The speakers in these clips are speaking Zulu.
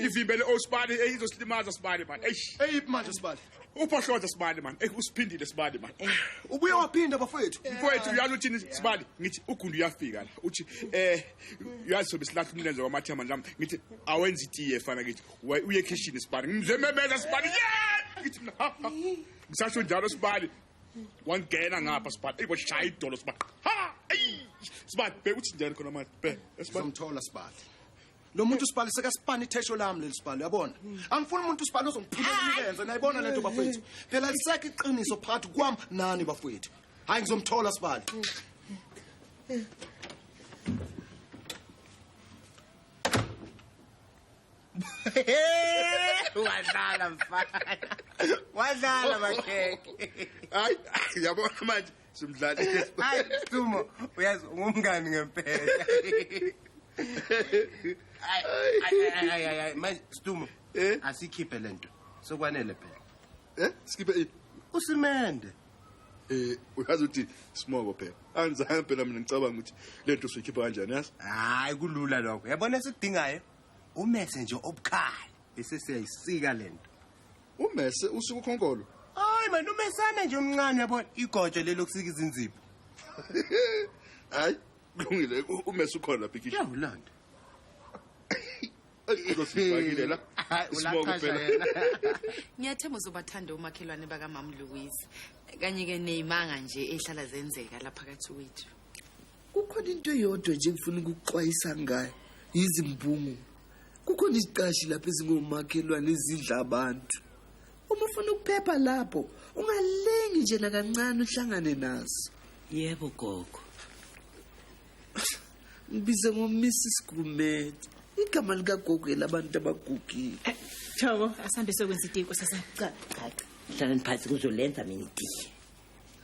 ivimbele osibani oh, eyizosilimaza sibani man eish eyiphi manje sibani uphohloza sibani man ey usiphindile sibani man ubuye waphinda bafowethu mfowethu uyalo uthini sibani ngithi ugundu uyafika la uthi eh uyazi sobe silahla umlenze wamathema nami ngithi awenza itiye fana ngithi uye ekhishini sibani ngimzememeza sibani yeah ngithi mina ha ha ngisasho njalo sibani wangena ngapha sibani ey washaya idolo sibani ha ey sibani be uthi njani khona manje be sibani somthola sibani lo muntu usibhali sekasipana ithesho lami leli sibhali uyabona angifuni umuntu usibhali ozongiphilela imilenze nayibona lento bafowethu phela lisekho iqiniso phakathi kwami nani bafowethu hayi ngizomthola sibhali wadlala mfana wadlala bakhekhe hayi yabona manje simdlali hayi dumo uyazi ungumngani ngempela manje stumo eh? asikhiphe le nto sokwanele phela um sikhiphe ini usimende eh uyazi ukuthi smobo phela angizange phela mina ngicabanga ukuthi lento sikhipha kanjani yazi hayi kulula lokho yabona esikudingayo umese nje obukhali bese siyayisika lento Umese usuku khonkolo. Hayi manje umesana nje omncane yabo igojo lelo kusika izinzipho. Hayi kulungile umese ukhona bhikisha. Yawulanda. Ngosifakile la. Sibonga phela. Ngiyathemba uzobathanda umakhelwane baka Mam Louise. Kanye ke nezimanga nje ehlala zenzeka lapha kathi wethu. kukhona into eyodwa nje ngifuna ukuxwayisa ngayo yizimbungu kukhona iziqashi lapho ezingomakhelwane ezidla abantu uma ufuna ukuphepha lapho ungalingi nje nakancane uhlangane nazo yebo gogo ngibize ngomisi sigumede igama likagogo elabantu abagugile eh, chabo asambe sokwenza itiko sasaqaqa hlalani phansi kuzolenza mina itiye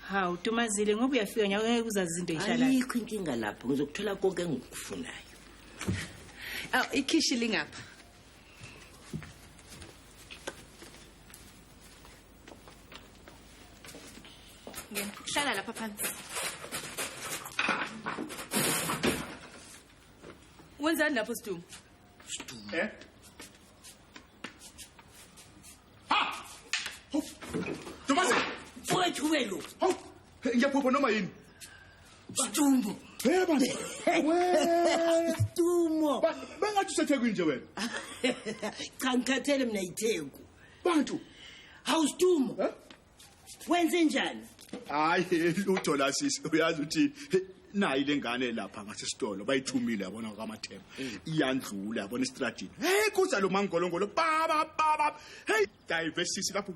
hawu dumazile ngoba uyafika nyako ngeke uzazi izinto eyishalayo ayikho inkinga lapho ngizokuthola konke engikufunayo aw ikhishi lingapha ngena hlala lapha phansi wenzani lapho sidumo Eh? Ntombazana! Mfowethu ube lo. Hawu, ngiyaphupha noma yini? Stumbo. Hey bantu. Wee. Stumbo. Bengathi usethekwini nje wena. Cha ngikhathele mina yitheku. Bantu. Hawu Stumbo. wenzenjani hayi lutho la sisi uyazi uthini nayi lengane lapha ngasesitolo bayithumile yabona kwamathemba mm. iyandlula yabona istradini hey kuza lo mangolongolo baba baba hey dive sisi lapho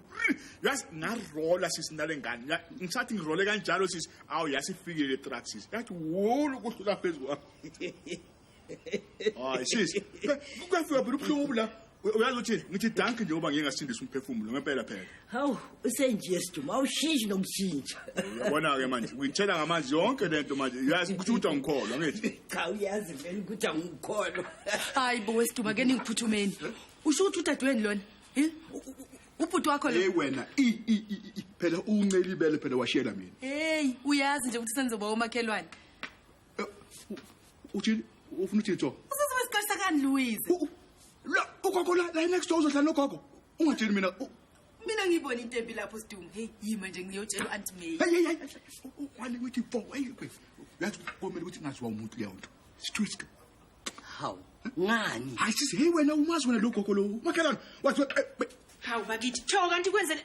yas ngarola sisi nalengane ngisathi ngirole kanjalo sisi awu yasifikile truck sisi yathi wulu kuhlula phezulu hayi sisi kuyafika phela ubuhlungu obula uyazi ukuthi ngithi danki nje uba ngingasindisa umphefumulo ngempela phela hawu usenje siduma awushintshe nokushintsha uyabona-ke manje uyitshela ngamanzi yonke le nto manje uyazi ukuthi ukuthi angikholwa ngithi cha uyazi vele ukuthi angikholwa hayi bo wesiduma ke ningiphuthumeni usho ukuthi udadewenu lona Eh? U- u- u- ubhuti wakho hey lo wena i i i i- i phela uncelibele phela washiyela mina heyi uyazi nje ukuthi senzoba omakhelwane uthini ufuna uthini jo usisi wesiqashisa kani louise la ugogo la la next door uzohlala nogogo ungatsheli mina mina ngiyibona intempi lapho sidungu heyi yima nje ngiyotshela u-anti may heyi heyi wani withi fo heyi yazi komele ukuthi ngaziwa umuntu leyo nto sitwisto hawu ngani hayi sisi heyi wena umazi wena lo gogo lowo makhelwane wathi hawu bakithi tsho kanti kwenzele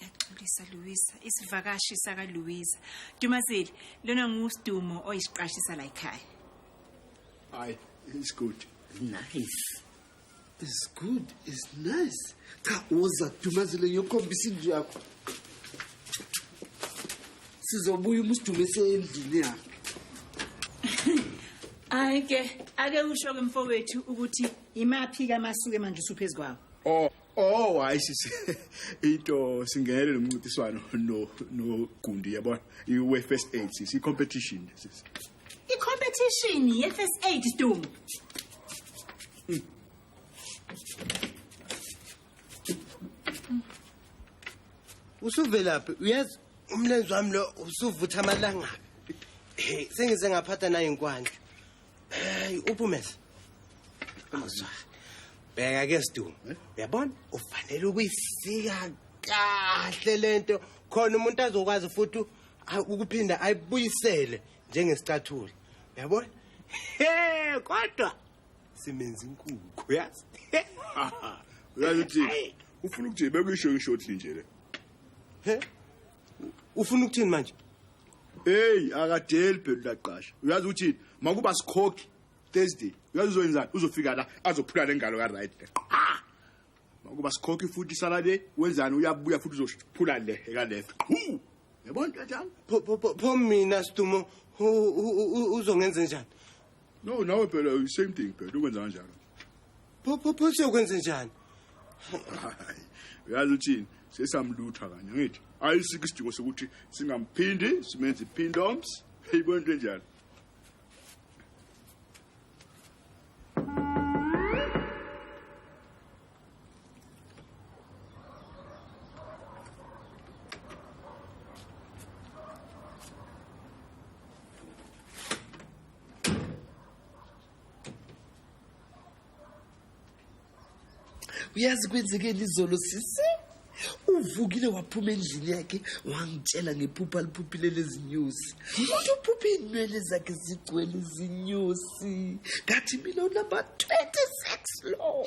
Ngiyaxolisa Luisa, isivakashi saka Luisa. Dumazeli, lona nguSdumo oyisiqashisa la ekhaya. Hayi, it's good. Nice. It's good, it's nice. Cha uza Dumazeli ngiyokhombisa indlu yakho. Sizobuya umusdumo esendlini yakhe. Hayi ke, ake usho ke mfowethu ukuthi imaphi kamasuke manje usuphezukwawo. Oh, Oh hayi sisi into singenele lo mncintiswano no no Gundi yabona iwe first aid sisi i competition sisi I competition ye first aid Sdumo. usuvelaphi uyazi umlenze wami lo usuvutha amalangabi Hey, sengize ngaphatha nayo inkwandla Hey uPhumeza. Awuzwa. Bheka ke Sdu. Eh? Uyabona ufanele ukuyisika kahle lento khona umuntu azokwazi futhi ukuphinda ayibuyisele njengesicathulo. Uyabona? Hey kodwa simenza inkukhu yazi. Uyazi uthi ufuna ukuthi bekuyisho ishoti nje le. He? Ufuna ukuthini manje? Hey akadeli phela laqasha. Uyazi ukuthi makuba sikhokhi Thursday. Uyazi uzoyenzani? Uzofika la azophula lengalo ka right. Ah! Makuba sikhokhi futhi salade wenzani uyabuya futhi uzophula le eka left. Qhu! Yabona kanjani? Pho pho pho- pho mina Stumo u- u- u- uzongenza njani? no nawe phela uh, same thing phela ukwenza kanjalo phopho pho siyokwenza njani uyazi uthini sesamlutha kanye ngithi ayisikho isidingo sokuthi singamphindi simenze iphindoms eyibona into enjalo uyazi kwenzekeni izolo sisi uvukile waphuma endlini yakhe wangitshela ngephupha aliphuphile lezinyusi uthi uphuphe iinwele zakhe zigcwele izinyusi ngathi mina unumber 26 lo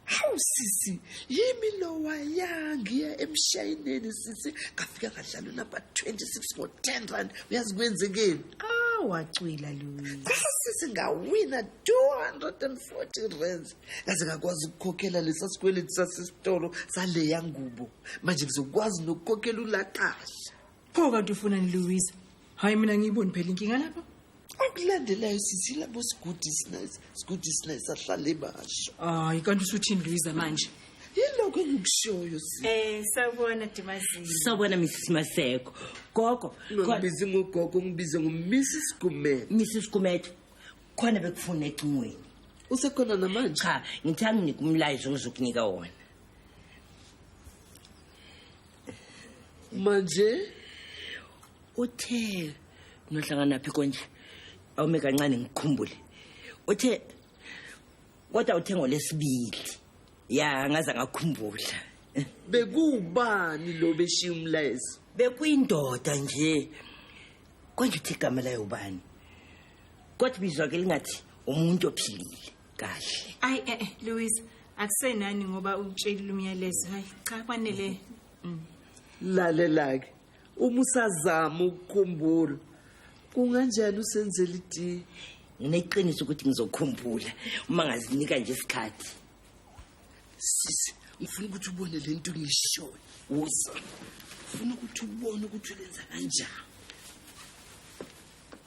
hawu sisi yimi lowa yangiya emshayineni sisi ngafika ngadlala unumber 26 ngo-10 rand uyazi kwenzekeni ah, wacwila luyisi sisi ngawina 240 rands kaze ngakwazi ukukhokhela lesa sikweleti sasesitolo saleya ngubo manje ngizokwazi nokukhokhela ulaqasha pho kanti ufunani louisa hhayi mina ngiyiboni phela inkinga lapha okulandelayo sisi labo sigudi sinayisa sigudi sinayisa ahlale basho hayi kanti usuthini louisa manje yilokho engikushoyo si Eh sawubona Dimazini. sawubona mrs maseko gogo ungibizi ngogogo ungibize ngomisi sigumela mrs gumedo khona bekufuna ecingweni usekhona namanje cha ngithe anginike umlayezo ngizokunika wona manje uthe nohlangana phi konje awume kancane ngikhumbule uthe kodwa uthe ngolesibili ya ngaze ngakhumbula bekuwubani lo beshiya umlayezo bekuyindoda nje konje uthi igama layo ubani kodwa ibizwa ke lingathi umuntu ophilile kahle ayi eh, eh Louis akusenani ngoba utshelile umyalezo hayi cha kwanele mm. lalelake uma usazama ukukhumbula kunganjani usenzela iti ngineqiniso ukuthi ngizokhumbula uma ngazinika nje isikhathi sisi ngifuna ukuthi ubone le nto ngishoyo uza ngifuna ukuthi ubone ukuthi ulenza kanjani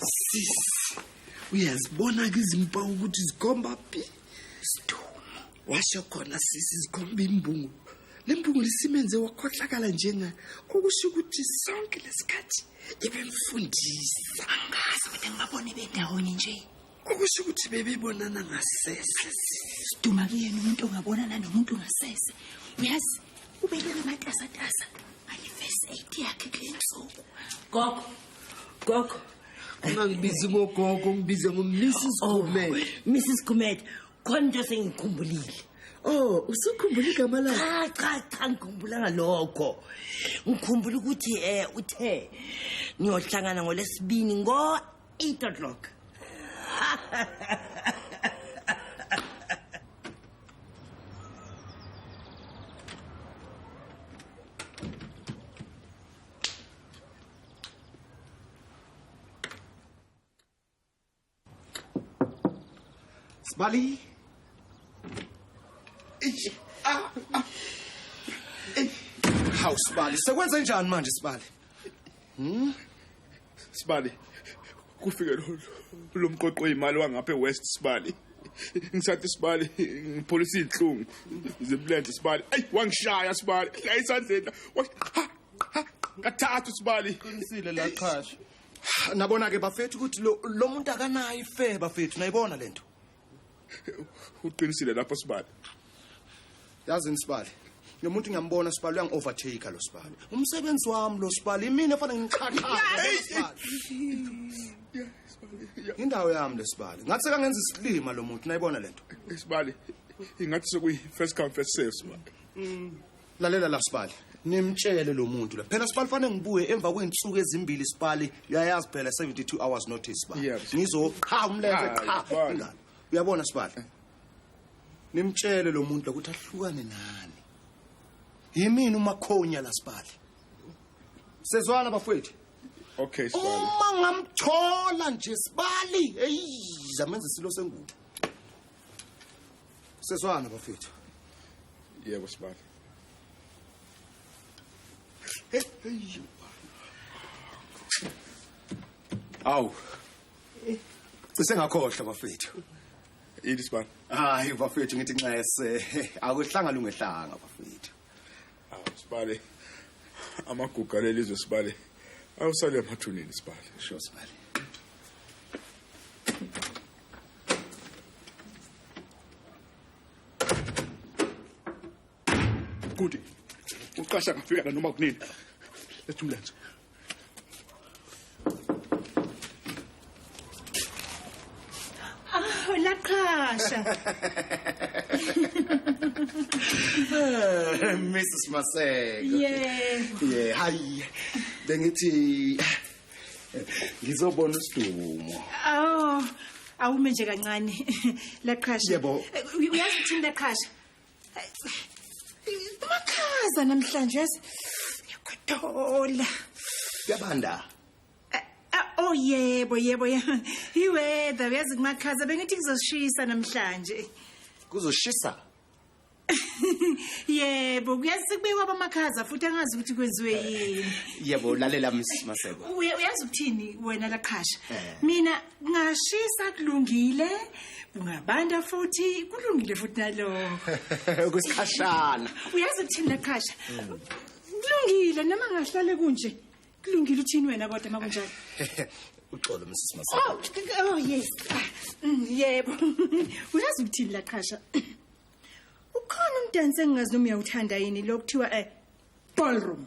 sis uyazibona ke izimpawu ukuthi zikhomba phi sidumo washo khona sisi zikhomba imbungu le mbungu lisimenze wakhohlakala njenga okusho ukuthi sonke lesikhathi ibemfundisa angazi ukuthi ngibabone bendawonye nje okusho ukuthi bebebonana ngasese siduma kuyena umuntu ongabonana nomuntu ngasese uyazi ubelele amatasatasa ngale first aid yakhe kule nsuku gogo gogo ungangibizi ngogogo ngibize ngomisi oh, sigumede misi sigumede khona into sengikhumbulile Oh, usukhumbula igama lakhe? Cha cha cha ngikhumbulanga lokho. Ngikhumbula ukuthi eh uthe ngiyohlangana ngolesibini ngo 8 o'clock. Sbali. Eish. Ah. ah. Eish. Hawu Sibali, sekwenze njani manje Sibali? Hmm? Sibali. Kufike lo lo mqoqo oyimali wangapha eWest Sibali. Ngisathi Sibali ngipholisa izinhlungu. Zimlenze Sibali. Ey wangishaya Sibali. La isandleni. Kathathu Sibali. Qinisile la qhasha. Nabona ke bafethu ukuthi lo lo muntu akanayo ife bafethu nayibona lento. uqinisile lapho sibali yazi nisibali lo muntu ngiyambona sibali uyangi-overtake lo sibali umsebenzi wami lo sibali imina efanele ngiqhaqhaindawo yami le sibali ngathi sekangenza isilima lo muntu nayibona le nto sibali ingathi sekuyi-first come first serve sibali mm. lalela la sibali nimtshele lo muntu la phela sibali fanele ngibuye emva kwey'nsuku ezimbili sibali uyayazi phela 72 hours notice ba Yeah. ngizoqha umlenze Hayi, qha bani. ingalo uyabona sibali nimtshele lo muntu lokuthi ahlukane nani yimini umakhonya la sibali sezwana bafowethu okay sibali uma ngamthola nje sibali eyi zamenza isilo sengubo Seswana bafethu. Yebo sibali. Hey, hey. Awu. Cise ngakhohlwa bafethu. Yini sibani? Hayi bafethu ngithi nxese. Akuhlanga lungehlanga bafethu. awu sibale amaguga lelizwe sibale awusale emathuneni sibale sho sibale Kuti, uqasha ngafika la noma kunini. Lethu mlenze. Oh, la qhasha. Mrs Maseko. Yeah. Yeah, hayi. Bengithi ngizobona usidumo. Oh, awume nje kancane. La qhasha. Yebo. Uyazi ukuthi la qhasha. Makhaza namhlanje yazi. Yakuthola. Yabanda. Eh, eh, oh yebo yebo yebo. Iweather uyazi kumakhaza bengithi kuzoshisa namhlanje. Kuzoshisa? yebo kuyazi kubekwa abamakhaza futhi angazi ukuthi kwenziwe yini yebo lalela msmaseko uyazi ukuthini wena laqhasha eh. mina Ngashisa kulungile, kungabanda futhi kulungile futhi nalokho. Kusikhashana. Uyazi ukuthini laqhasha? Kulungile noma ngahlale kunje. Kulungile uthini wena kodwa makunjalo? Uxolo Mrs. Masa. Oh, oh yes. Ah, mm, Yebo. Uyazi ukuthini laqhasha? Ukhona umdansi engingazi noma uyawuthanda yini lokuthiwa eh ballroom.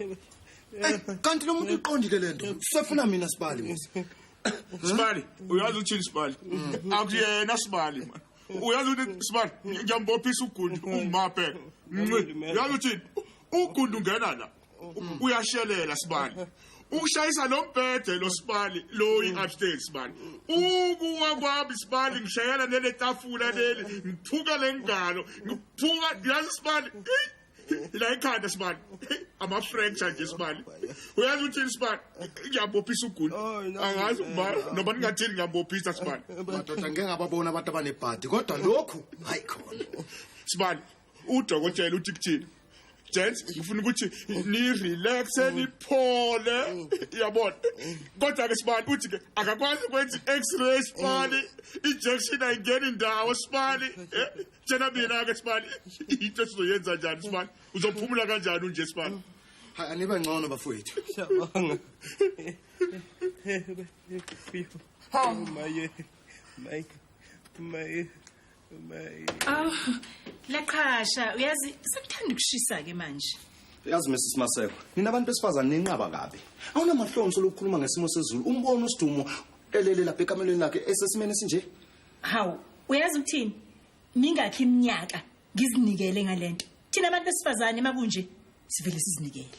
Ey, kanti lo muntu uqondile le nto sefuna mina sibali mos sibali uyazi uthini sibali akuyena sibali man uyazi ukuthi sibali ngiyambophisa ugundi umape Nci. uyazi uthini ugundi ungena la uyashelela sibali ushayisa lo mbhede lo sibali lo i-upstate sibali ukuwa kwami sibali ngishayela nele tafula leli ngiphuka le ngalo ngiphuka yazi sibali la ikhanda sibali ama-fracture nje sibali uyazi uthini sibali ngiyabophisa ugula angazi uba noba ningathini ngiyabophisa sibali madoda ngeke ngababona abantu abanebhadi kodwa lokhu hayi khona sibali udokotela uthi kuthini gents ngifuna ukuthi nirelaxe mm. niphole mm. yabona kodwa-ke sibani uthi ke akakwazi ukwenza i-x-ray sibani mm. injection ayingeni ndawo sibani eh, tshena mina-ke sibani into esizoyenza njani sibani uzophumula kanjani unje sibani hayi anibe ngcono bafowethu siyabonga hawu maye maye maye Oh, laqhasha uyazi sekuthanda ukushisa ke manje. Uyazi Mrs Maseko, nina abantu besifazane ninqaba kabi. Awunamahlonso lokukhuluma ngesimo sezulu. Umbono usidumo elele lapha ekamelweni lakhe esesimene sinje. Hawu, uyazi ukuthini? Mingakhi iminyaka ngizinikele ngalento. Thina abantu besifazane makunje sivele sizinikele.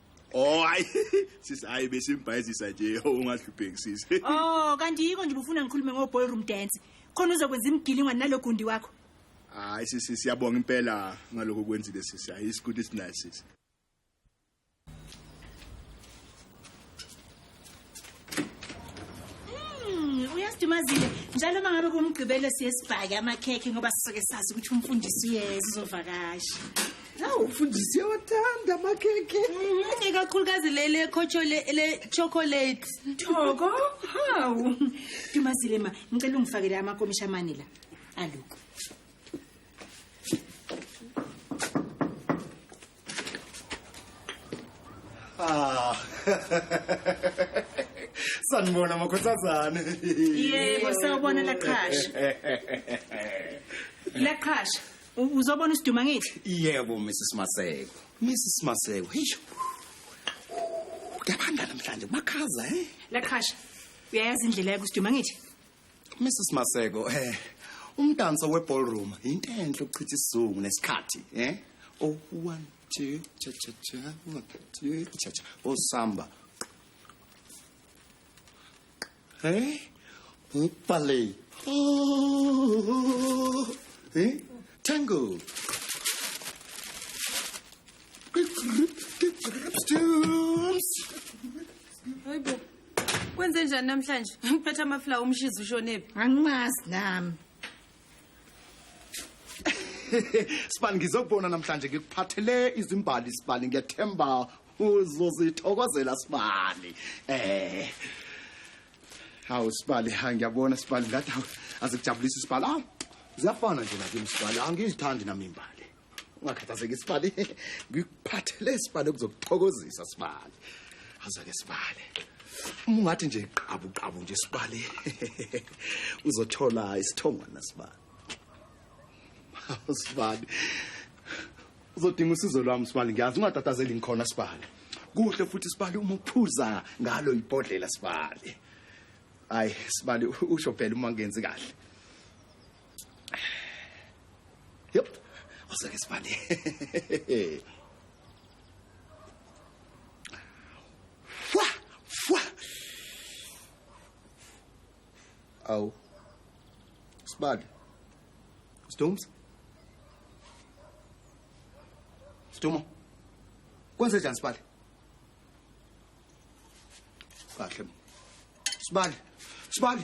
Oh hayi sisi hayi besimbhayizisa nje ungahlupheki sisi. Oh kanti yiko nje ubufuna ngikhulume ngo ballroom dance. Khona uzokwenza imigilingwa nalogundi wakho. Hayi sisi siyabonga impela ngaloko kwenzile sisi. Hayi isikuthi sinayo sisi. Hmm, uyasidumazile njalo uma ngabe kumgqibelo siye sibhake amakhekhe ngoba sisuke sazi ukuthi umfundisi uyeza uzovakasha hawu umfundisi uyawathanda amakhekhe Mhm, ikakhulukazi leli le-chocolate thoko hawu dumazile ma ngicela ungifakele amakomisha amane la aluko Ah. Sanibona makhothazane. Yebo sawubona laqhasha. Laqhasha uzobona isiduma ngithi? Yebo Mrs Maseko. Mrs Maseko. Hisho. Kuyabanda namhlanje kumakhaza eh. Laqhasha. Uyayazi indlela yakusiduma ngithi? Mrs Maseko eh umdanso weballroom into enhle ukuchitha isizungu nesikhathi eh oh one two cha cha cha one two cha cha oh samba eh ballet oh eh tango Stooms. Hey, Kwenze njani namhlanje? Ngiphethe amafla umshizi ushonephi? Angimazi nami. Sibani ngizokubona namhlanje ngikuphathele izimbali sibani ngiyathemba uzozithokozela sibani. Eh. Hawu sibali ha ngiyabona sibali ngathi hawu, azikujabulisi sibali. Hawu. Ziyafana nje nakimi sibali angizithandi nami imbali. ungakhathazeki sibali ngikuphathele sibali okuzokuthokozisa sibali azake sibali uma ungathi nje qabu qabu nje sibali uzothola isithongwana sibali sibali uzodinga usizo lwami sibali ngiyazi ungatatazeli ngikhona sibali kuhle futhi sibali uma uphuza ngalo ibhodlela sibali hayi sibali usho phela uma ngenzi kahle Yep. Osake sibale. Fwa, fwa. Aw. Sibale. Storms? Stumo. Kwenze njani Sibali? Kahle. Sibali. Sibali.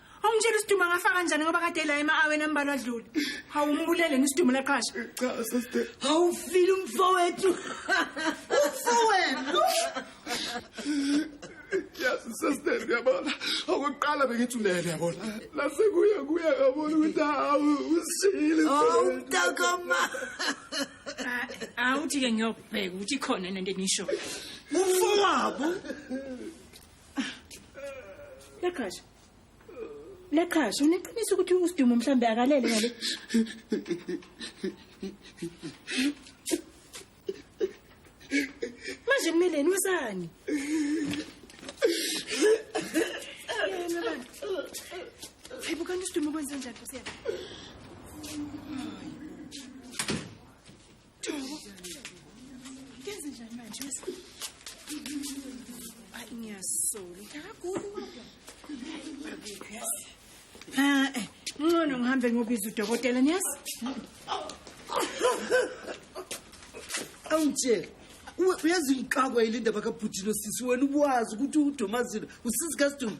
Awumtshela isidumbu angafa kanjani ngoba kade la ema-aweni ambalwa adlule. Hawu umbulele ngisidumbu laqhasha. Cha sister. Hawu file umfowethu. Umfowethu. Yes sister yabona. Okuqala bengithi ulele yabona. Lase kuya kuya yabona ukuthi hawu usile. Hawu mntakama. Awuthi ke ngiyobheka ukuthi khona nento enisho. Umfowabo. Leqhasha. Leqhasha uneqiniso ukuthi uSidumo mhlambe akalele ngale. Manje kumeleni wesani? Yena bani? Hayibo kanti uSidumo kwenze njani Nkosi yami? Kenze njani manje? Ay ngiyasola. Ngagula kodwa. Ah, eh, ngcono ngihambe ngobiza udokotela niyazi? Awungitshela. Uwe uyazi ngixakwa yile ndaba kabhutshino sisi wena ubuwazi ukuthi uDomazile usisi kaSidumbu.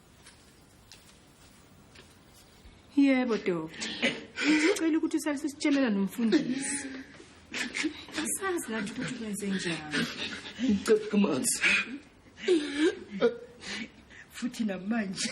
Yebo doctor. Ngicela ukuthi usalise sitshelela nomfundisi. Asazi kanti ukuthi kwenze njani. Ngicela kumanzi. Futhi namanje.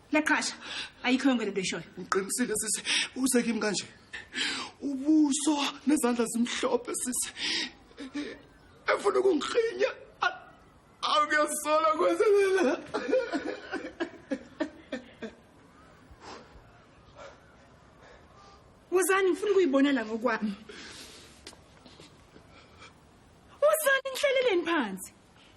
Laqhasha. Ayikho yonke lento eshoyo. Ngiqinisile sisi, uze kimi kanje. Ubuso nezandla zimhlophe sisi. Efuna ukungikhinya. Awuyasola kwenzelela. Wozani ngifuna ukuyibona la ngokwami. Wozani ngihleleleni phansi.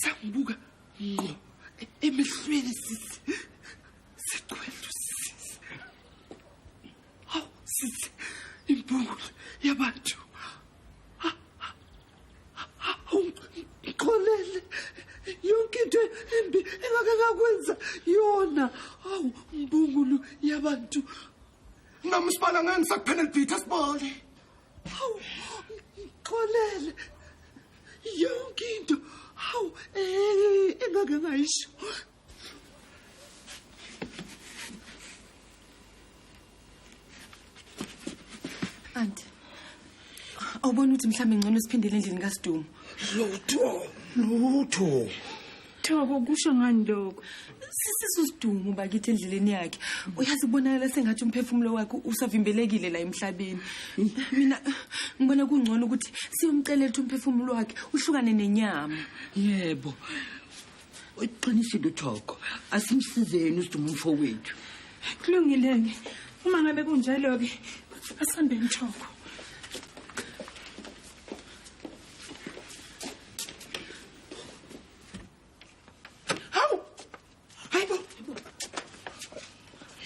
sangibuka ngqo emehlweni sisi siqwethu sisi hawu sisi impungu yabantu ngixolele yonke into embi engake ngakwenza yona hawu mbungulu yabantu nami sibala ngani sakuphenel bhitha sibole Hawu, ngixolele. Yonke into. Hawu, eh engake ngayisho. Aunt. Awubona ukuthi mhlawumbe ngcono siphindele endlini kaSidumo. Lutho. Lutho. Thoko kusho ngani lokho? Sisisa usidumo bakithi endleleni yakhe. Uyazi kubonakala sengathi umphefumulo wakhe usavimbelekile la emhlabeni. Mina ngibona kungcono ukuthi siyomcela ukuthi umphefumulo wakhe uhlukane nenyama. Yebo. Uqinisile uThoko. Asimsizeni usidumo umfowethu. Kulungile-ke. Uma ngabe kunjalo-ke asihambe mthoko. Hawu! Hayibo!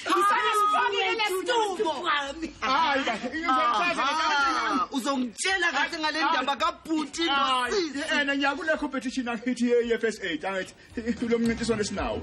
Isana sifakile lesitubo. Hayi kahle, ngizokwazi ngeke uzongitshela kahle ngale ndaba kabhuti nosisi. Yena ngiyakulekho competition angithi ye-FSA, angithi lo mncintiswano esinawo.